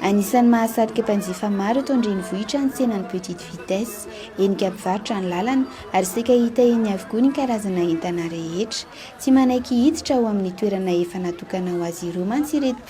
Anisan'ny mahasarika mpanjifa maro eto an-drenivohitra ny tsenan'ny Petite Vitesse. Henika mpivarotra ny lalana ary saika hita eny avokoa ny karazana entana rehetra. Tsy manaiky hiditra ao amin'ny toerana efa natokana ho azy ireo mantsy ireto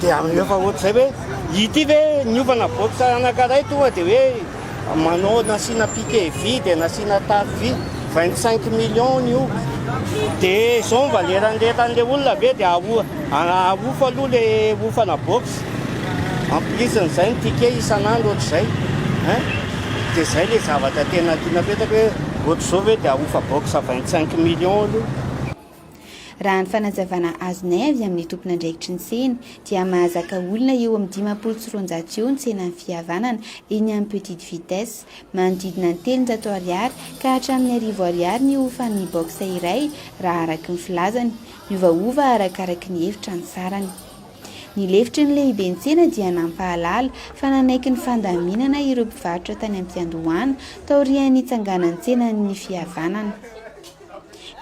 dia amin'ny efa ohatr'izay hoe ity ve niovana box anankiray tonga dia hoe manao nasiana piqué vy dia nasiana tafo vy 25 millions ny io dia izao mba leranderan'ilay olona ve dia aho ahofo aloha le hofana box en plus n'izay ny piqué isan'andro ohatr'izay hein dia izay le zavatra tena tiana petraka hoe ohatr'izao ve dia ahofa box 25 millions aloha Raha ny fanazavana azonay avy amin'ny tompon'andraikitry ny tsena dia mahazaka olona eo amin'ny dimampolo sy roanjato eo ny tsenan'ny fihavanana eny amin'ny Petite Vitesse. Manodidina ny telonjato ariary ka hatramin'ny arivo ariary ny hofan'ny box iray raha araka ny filazany. Miovaova arakaraky ny efitra ny sarany. Ny lefitry ny lehiben-tsena dia nampahalala fa nanaiky ny fandaminana ireo mpivarotra tany am-piandohana taorian'ny nitsanganan'ny tsenan'ny fihavanana.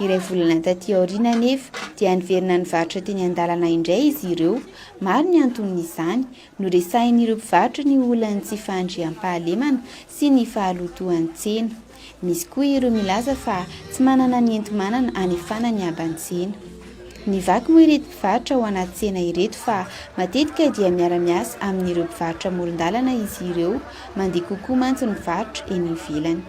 Iray volana taty aoriana anefa dia niverina nivarotra teny an-dalana indray izy ireo. Maro ny anton'izany. Noresahin'ireo mpivarotra ny olan'ny tsy fahandriampahalemana sy ny fahalotoan'ny tsena. Misy koa ireo milaza fa tsy manana ny enti-manana hanefana ny haban-tsena. Ny vaky moa ireto mpivarotra ao anaty tsena ireto fa matetika dia miara-miasa amin'ireo mpivarotra amoron-dalana izy ireo, mandeha kokoa mantsy ny varotra eny ivelany.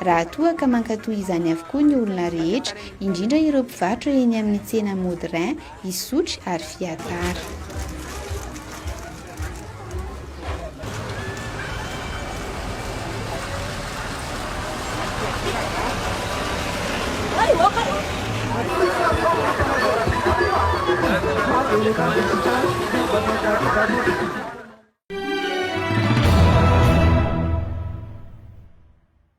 Raha toa ka mankatoa izany avokoa ny olona rehetra, indrindra ireo mpivarotra eny amin'ny tsena Modrin, Isotry ary Fiatsara.